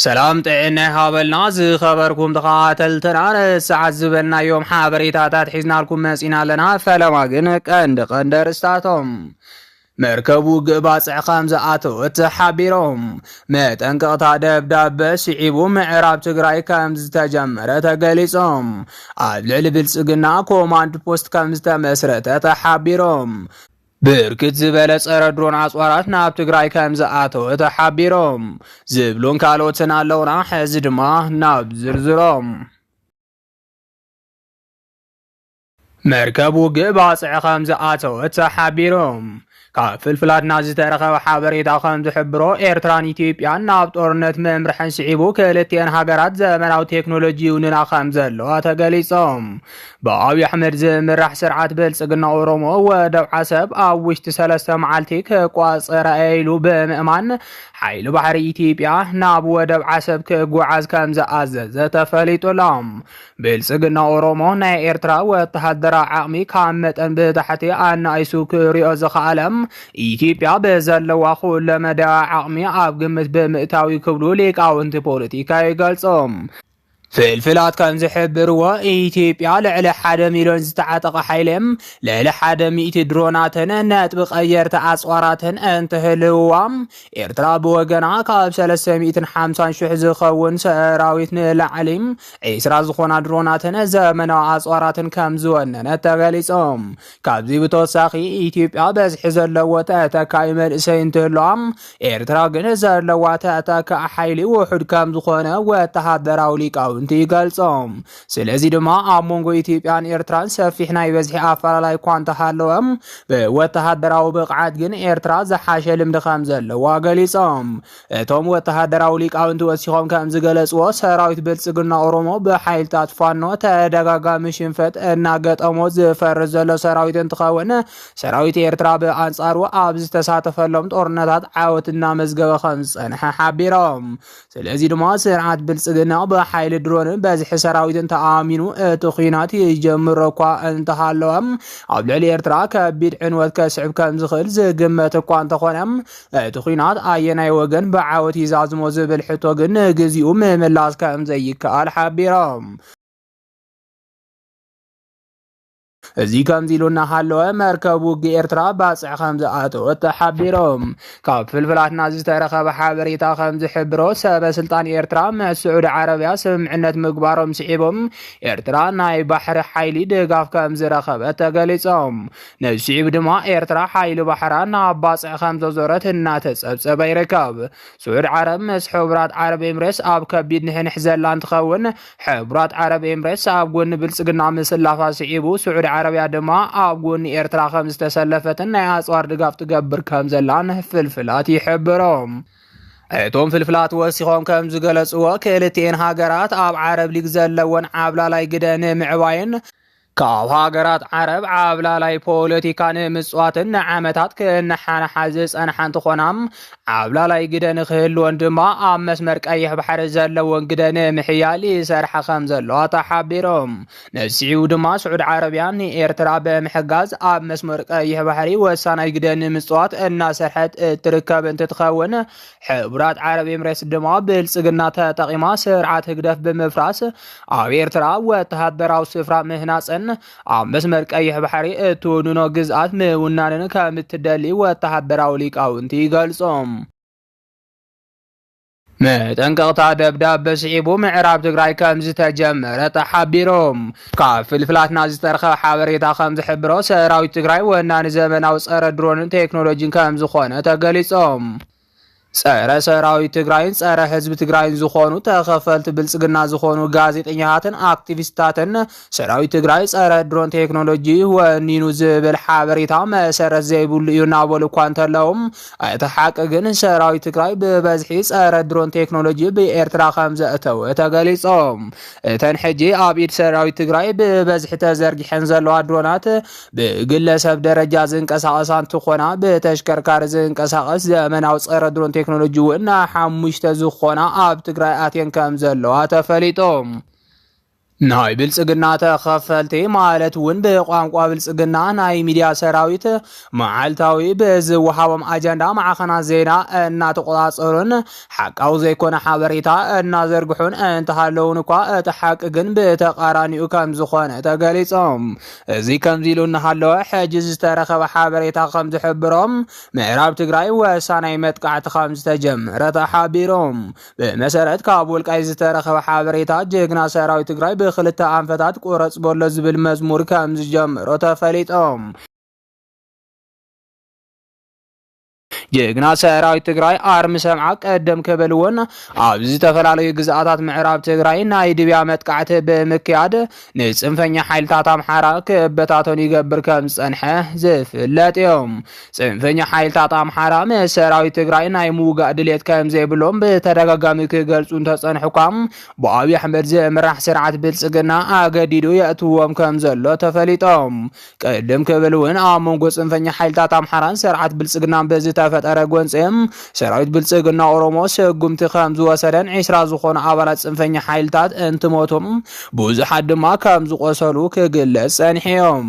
ሰላም ጥዕና ይሃበልና ዝኸበርኩም ተኸታተልትና ንሰዓት ዝበልናዮም ሓበሬታታት ሒዝናልኩም መጺና ኣለና። ፈለማ ግን ቀንዲ ቀንዲ ኣርእስታቶም መርከብ ውግእ ባጽዕ ከም ዝኣተወት ተሓቢሮም መጠንቀቕታ ደብዳበ ስዒቡ ምዕራብ ትግራይ ከም ዝተጀመረ ተገሊጾም ኣብ ልዕሊ ብልጽግና ኮማንድ ፖስት ከም ዝተመስረተ ተሓቢሮም ብርክት ዝበለ ጸረ ድሮን ኣጽዋራት ናብ ትግራይ ከም ዝኣተወ ተሓቢሮም ዝብሉን ካልኦትን ኣለውና። ሕዚ ድማ ናብ ዝርዝሮም መርከብ ውግእ ባጽዕ ከም ዝኣተወት ተሓቢሮም ካብ ፍልፍላትና ዝተረኸበ ሓበሬታ ከም ዝሕብሮ ኤርትራን ኢትዮጵያን ናብ ጦርነት ምምርሐን ስዒቡ ክልቲኤን ሃገራት ዘመናዊ ቴክኖሎጂ ይውንና ከም ዘለዋ ተገሊጾም ብኣብዪ ኣሕመድ ዝምራሕ ስርዓት ብልፅግና ኦሮሞ ወደብ ዓሰብ ኣብ ውሽጢ ሰለስተ መዓልቲ ክቋፀራ እየ ኢሉ ብምእማን ሓይሊ ባሕሪ ኢትዮጵያ ናብ ወደብ ዓሰብ ክጓዓዝ ከም ዝኣዘዘ ተፈሊጡ ኣሎ። ብልፅግና ኦሮሞ ናይ ኤርትራ ወተሃደራዊ ዓቕሚ ካብ መጠን ብታሕቲ ኣናኢሱ ክሪኦ ዝኸኣለ ኢትዮጵያ ብዘለዋ ኩለመዳያዊ ዓቕሚ ኣብ ግምት ብምእታዊ ክብሉ ሊቃውንቲ ፖለቲካ ይገልጾም። ፍልፍላት ከም ዝሕብርዎ ኢትዮጵያ ልዕሊ ሓደ ሚሊዮን ዝተዓጠቐ ሓይሊ ልዕሊ ሓደ ሚእቲ ድሮናትን ነጥቢ ቀየርቲ ኣፅዋራትን እንትህልውዋ ኤርትራ ብወገና ካብ ሰለስተ ሚእትን ሓምሳን ሽሕ ዝኸውን ሰራዊት ንላዕሊ ዒስራ ዝኾና ድሮናትን ዘመናዊ ኣፅዋራትን ከም ዝወነነት ተገሊፆም ካብዚ ብተወሳኺ ኢትዮጵያ በዝሒ ዘለዎ ተተካኢ መንእሰይ እንትህልዋ ኤርትራ ግን ዘለዋ ተተካኢ ሓይሊ ውሑድ ከም ዝኾነ ወተሃደራዊ ሊቃውንቲ ይገልጾም። ስለዚ ድማ ኣብ መንጎ ኢትዮጵያን ኤርትራን ሰፊሕ ናይ በዝሒ ኣፈላላይ እኳ እንተሃለወ ብወተሃደራዊ ብቕዓት ግን ኤርትራ ዝሓሸ ልምዲ ከም ዘለዋ ገሊጾም። እቶም ወተሃደራዊ ሊቃውንቲ ወሲኾም ከም ዝገለጽዎ ሰራዊት ብልጽግና ኦሮሞ ብሓይልታት ፋኖ ተደጋጋሚ ሽንፈት እናገጠሞ ዝፈርስ ዘሎ ሰራዊት እንትኸውን ሰራዊት ኤርትራ ብኣንጻሩ ኣብ ዝተሳተፈሎም ጦርነታት ዓወት እናመዝገበ ከም ዝጸንሐ ሓቢሮም። ስለዚ ድማ ስርዓት ብልጽግና ብሓይሊ ድሮንን በዝሒ ሰራዊትን ተኣሚኑ እቲ ኩናት ይጀምሮ እኳ እንተሃለወም ኣብ ልዕሊ ኤርትራ ከቢድ ዕንወት ከስዕብ ከም ዝኽእል ዝግመት እኳ እንተኾነ እቲ ኲናት ኣየናይ ወገን ብዓወት ይዛዝሞ ዝብል ሕቶ ግን ንግዚኡ ምምላስ ከም ዘይከኣል ሓቢሮም። እዚ ከምዚ ኢሉ እናሃለወ መርከብ ውግእ ኤርትራ ባጽዕ ከም ዝኣተወት ተሓቢሮም ካብ ፍልፍላትና ዝተረኸበ ሓበሬታ ከም ዝሕብሮ ሰበ ስልጣን ኤርትራ ምስ ስዑዲ ዓረብያ ስምምዕነት ምግባሮም ስዒቦም ኤርትራ ናይ ባሕሪ ሓይሊ ድጋፍ ከም ዝረኸበት ተገሊጾም ንስዒቡ ድማ ኤርትራ ሓይሊ ባሕራ ናብ ባጽዕ ከም ዘዞረት እናተጸብጸበ ይርከብ። ስዑድ ዓረብ ምስ ሕቡራት ዓረብ ኤምሬትስ ኣብ ከቢድ ንሕንሕ ዘላ እንትኸውን፣ ሕቡራት ዓረብ ኤምሬትስ ኣብ ጎኒ ብልጽግና ምስላፋ ስዒቡ ስዑድ ዓረብያ ድማ ኣብ ጎኒ ኤርትራ ከም ዝተሰለፈትን ናይ ኣጽዋር ድጋፍ ትገብር ከም ዘላን ፍልፍላት ይሕብሮም። እቶም ፍልፍላት ወሲኾም ከም ዝገለጽዎ ክልቲኤን ሃገራት ኣብ ዓረብ ሊግ ዘለወን ዓብላላይ ግደ ንምዕባይን ካብ ሃገራት ዓረብ ዓብላላይ ፖለቲካ ንምፅዋትን ንዓመታት ክነሓንሓ ዝፀንሓ እንትኾና ዓብላላይ ግደ ንክህልወን ድማ ኣብ መስመር ቀይሕ ባሕሪ ዘለወን ግደ ንምሕያል ይሰርሓ ከም ዘለዋ ተሓቢሮም። ንስዒቡ ድማ ስዑድ ዓረቢያ ንኤርትራ ብምሕጋዝ ኣብ መስመር ቀይሕ ባሕሪ ወሳናይ ግደ ንምፅዋት እናሰርሐት እትርከብ እንትትኸውን ሕቡራት ዓረብ ኤምሬትስ ድማ ብልጽግና ተጠቂማ ስርዓት ህግደፍ ብምፍራስ ኣብ ኤርትራ ወተሃደራዊ ስፍራ ምህናጽን ኣብ መስመር ቀይሕ ባሕሪ እትውንኖ ግዝኣት ምውናንን ከም እትደሊ ወተሃደራዊ ሊቃውንቲ ይገልጾም። መጠንቀቕታ ደብዳበ ስዒቡ ምዕራብ ትግራይ ከም ዝተጀመረ ተሓቢሮም። ካብ ፍልፍላትና ዝተረኸበ ሓበሬታ ከምዝሕብሮ ሰራዊት ትግራይ ወናኒ ዘመናዊ ፀረ ድሮንን ቴክኖሎጂን ከምዝኾነ ተገሊፆም። ፀረ ሰራዊት ትግራይን ፀረ ህዝቢ ትግራይን ዝኾኑ ተኸፈልቲ ብልፅግና ዝኾኑ ጋዜጠኛታትን ኣክቲቪስታትን ሰራዊት ትግራይ ፀረ ድሮን ቴክኖሎጂ ወኒኑ ዝብል ሓበሬታ መሰረት ዘይብሉ እዩ እናበሉ እኳ እንተለዉ እቲ ሓቂ ግን ሰራዊት ትግራይ ብበዝሒ ፀረ ድሮን ቴክኖሎጂ ብኤርትራ ከም ዘእተወ ተገሊፆም። እተን ሕጂ ኣብ ኢድ ሰራዊት ትግራይ ብበዝሒ ተዘርጊሐን ዘለዋ ድሮናት ብግለሰብ ደረጃ ዝንቀሳቐሳ እንትኾና ብተሽከርካሪ ዝንቀሳቐስ ዘመናዊ ፀረ ድሮን ቴክኖሎጂ እውን ናብ ሓሙሽተ ዝኾና ኣብ ትግራይ ኣትየን ከም ዘለዋ ተፈሊጦም። ናይ ብልጽግና ተኸፈልቲ ማለት እውን ብቋንቋ ብልጽግና ናይ ሚድያ ሰራዊት መዓልታዊ ብዝወሃቦም ኣጀንዳ ማዕኸናት ዜና እናተቆፃፀሩን ሓቃዊ ዘይኮነ ሓበሬታ እናዘርግሑን እንተሃለውን እኳ እቲ ሓቂ ግን ብተቃራኒኡ ከምዝኾነ ተገሊፆም። እዚ ከምዚ ኢሉ እናሃለወ ሕጂ ዝተረኸበ ሓበሬታ ከምዝሕብሮ ምዕራብ ትግራይ ወሳናይ መጥቃዕቲ ከምዝተጀመረ ተሓቢሮም። ብመሰረት ካብ ወልቃይት ዝተረኸበ ሓበሬታ ጀግና ሰራዊት ትግራይ ብክልተ ኣንፈታት ቁረፅ በሎ ዝብል መዝሙር ከምዝጀመሮ ተፈሊጦም። ጀግና ሰራዊት ትግራይ ኣርሚ ሰምዓ ቀደም ከበልዎን ኣብ ዝተፈላለዩ ግዝኣታት ምዕራብ ትግራይ ናይ ድብያ መጥቃዕቲ ብምክያድ ንፅንፈኛ ሓይልታት ኣምሓራ ክበታተኑ ይገብር ከም ዝፀንሐ ዝፍለጥ እዩ። ፅንፈኛ ሓይልታት ኣምሓራ ምስ ሰራዊት ትግራይ ናይ ምውጋእ ድሌት ከም ዘይብሎም ብተደጋጋሚ ክገልፁ እንተፀንሑ እኳ ብኣብዪ ኣሕመድ ዝምራሕ ስርዓት ብልፅግና ኣገዲዱ የእትዎም ከም ዘሎ ተፈሊጦም ቅድም ክብል እውን ኣብ መንጎ ፅንፈኛ ሓይልታት ኣምሓራን ስርዓት ብልፅግናን ብዝተፈጠረ ጎንፂ ሰራዊት ብልፅግና ኦሮሞ ስጉምቲ ከም ዝወሰደን ዒስራ ዝኾኑ ኣባላት ፅንፈኛ ሓይልታት እንትሞቱን ብዙሓት ድማ ከም ዝቆሰሉ ክግለፅ ፀኒሖም።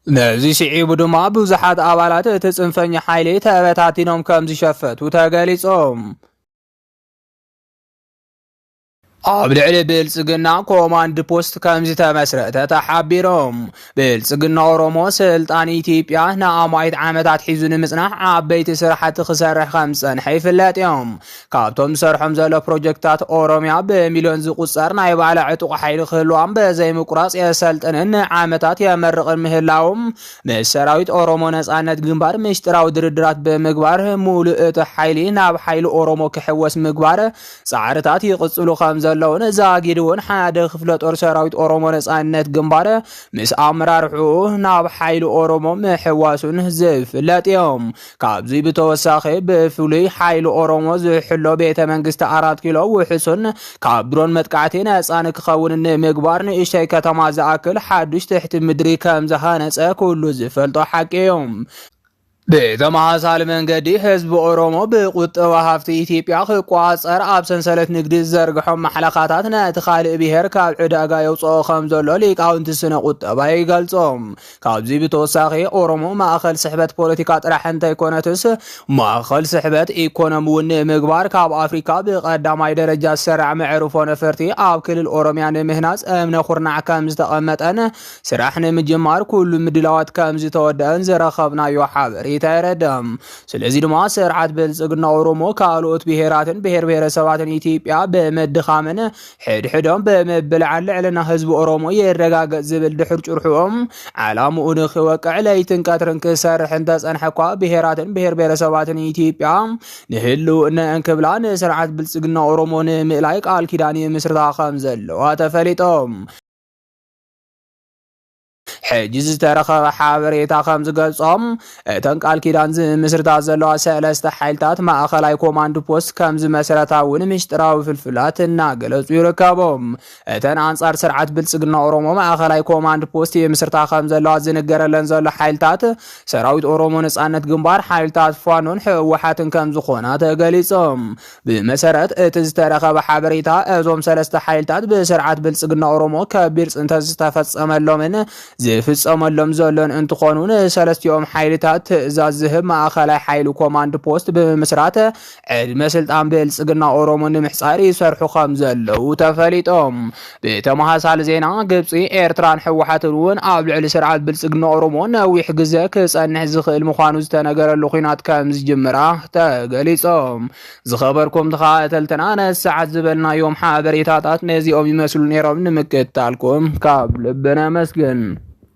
ነዚ ስዒቡ ድማ ብዙሓት ኣባላት እቲ ፅንፈኛ ሓይሊ ተበታቲኖም ከም ዝሸፈቱ ተገሊፆም። ኣብ ልዕሊ ብልጽግና ኮማንድ ፖስት ከም ዝተመስረተ ተሓቢሮም ብልጽግና ኦሮሞ ስልጣን ኢትዮጵያ ንኣማይት ዓመታት ሒዙ ንምጽናሕ ዓበይቲ ስራሕቲ ክሰርሕ ከም ዝጸንሐ ይፍለጥ እዮም ካብቶም ዝሰርሖም ዘሎ ፕሮጀክታት ኦሮሚያ ብሚልዮን ዝቁጸር ናይ ባዕላ ዕጡቕ ሓይሊ ክህልዋም በዘይምቁራጽ የሰልጥንን ንዓመታት የመርቕን ምህላዎም ምስ ሰራዊት ኦሮሞ ነጻነት ግንባር ምሽጢራዊ ድርድራት ብምግባር ሙሉእ እቲ ሓይሊ ናብ ሓይሊ ኦሮሞ ክሕወስ ምግባር ጻዕርታት ይቕጽሉ ከም ዘለውን ዛጊድውን ሓደ ክፍለ ጦር ሰራዊት ኦሮሞ ነጻነት ግንባር ምስ ኣመራርሑ ናብ ሓይሊ ኦሮሞ ምሕዋሱን ዝፍለጥ እዮም። ካብዚ ብተወሳኺ ብፍሉይ ሓይሊ ኦሮሞ ዝሕሎ ቤተ መንግስቲ ኣራት ኪሎ ውሕሱን ካብ ድሮን መጥቃዕቲ ነጻ ንክኸውን ንምግባር ንእሽተይ ከተማ ዝኣክል ሓዱሽ ትሕቲ ምድሪ ከም ዝሃነጸ ኩሉ ዝፈልጦ ሓቂ እዩ። ብተመሳሳሊ መንገዲ ህዝቢ ኦሮሞ ብቁጠባ ሃፍቲ ኢትዮጵያ ክቋፀር ኣብ ሰንሰለት ንግዲ ዝዘርግሖም ማሕለኻታት ነቲ ካልእ ብሄር ካብ ዕዳጋ የውፅኦ ከም ዘሎ ሊቃውንቲ ስነ ቁጠባ ይገልፆም። ካብዚ ብተወሳኺ ኦሮሞ ማእኸል ስሕበት ፖለቲካ ጥራሕ እንተይኮነትስ ማእኸል ስሕበት ኢኮኖሚ እውን ንምግባር ካብ ኣፍሪካ ብቀዳማይ ደረጃ ዝሰራዕ መዕርፎ ነፈርቲ ኣብ ክልል ኦሮሚያ ንምህናፅ እምነ ኩርናዕ ከም ዝተቐመጠን ስራሕ ንምጅማር ኩሉ ምድላዋት ከም ዝተወደአን ዘረከብናዮ ሓበሬታ የረድእ። ስለዚ ድማ ስርዓት ብልጽግና ኦሮሞ ካልኦት ብሔራትን ብሔር ብሔረሰባትን ኢትዮጵያ ብምድኻምን ሕድሕዶም ብምብላዕን ልዕልና ህዝቢ ኦሮሞ ይረጋገጽ ዝብል ድሑር ጭርሕኦም ዓላምኡ ንክወቅዕ ለይትን ቀትርን ክሰርሕ እንተጸንሐ እኳ ብሔራትን ብሔር ብሔረሰባትን ኢትዮጵያ ንህልውነአን ክብላ ንስርዓት ብልጽግና ኦሮሞ ንምእላይ ቃል ኪዳን ይምስርታ ከም ዘለዋ ተፈሊጦም ሕጂ ዝተረኸበ ሓበሬታ ከም ዝገልጾም እተን ቃል ኪዳን ዝምስርታ ዘለዋ ሰለስተ ሓይልታት ማእኸላይ ኮማንድ ፖስት ከም ዝመስረታ እውን ምሽጥራዊ ፍልፍላት እናገለጹ ይርከቡ እተን ኣንጻር ስርዓት ብልጽግና ኦሮሞ ማእኸላይ ኮማንድ ፖስት የምስርታ ከም ዘለዋ ዝንገረለን ዘሎ ሓይልታት ሰራዊት ኦሮሞ ነጻነት ግንባር ሓይልታት ፋኖን ህወሓትን ከም ዝኾና ተገሊጾም ብመሰረት እቲ ዝተረኸበ ሓበሬታ እዞም ሰለስተ ሓይልታት ብስርዓት ብልፅግና ኦሮሞ ከቢድ ፅንተት ዝተፈፀመሎምን ዝፍፀመሎም ዘሎን እንትኾኑ ንሰለስቲኦም ሓይልታት ትእዛዝ ዝህብ ማእኸላይ ሓይሊ ኮማንድ ፖስት ብምምስራት ዕድመ ስልጣን ብልፅግና ኦሮሞ ንምሕፃር ይሰርሑ ከም ዘለዉ ተፈሊጦም ብተመሳሳሊ ዜና ግብፂ፣ ኤርትራን ህወሓትን እውን ኣብ ልዕሊ ስርዓት ብልፅግና ኦሮሞ ነዊሕ ግዘ ክፀንሕ ዝኽእል ምዃኑ ዝተነገረሉ ኲናት ከም ዝጅምራ ተገሊፆም። ዝኸበርኩም ተኸታተልትና ነዚ ሰዓት ዝበልናዮም ሓበሬታታት ነዚኦም ይመስሉ ነይሮም። ንምክትታልኩም ካብ ልቢ ነመስግን።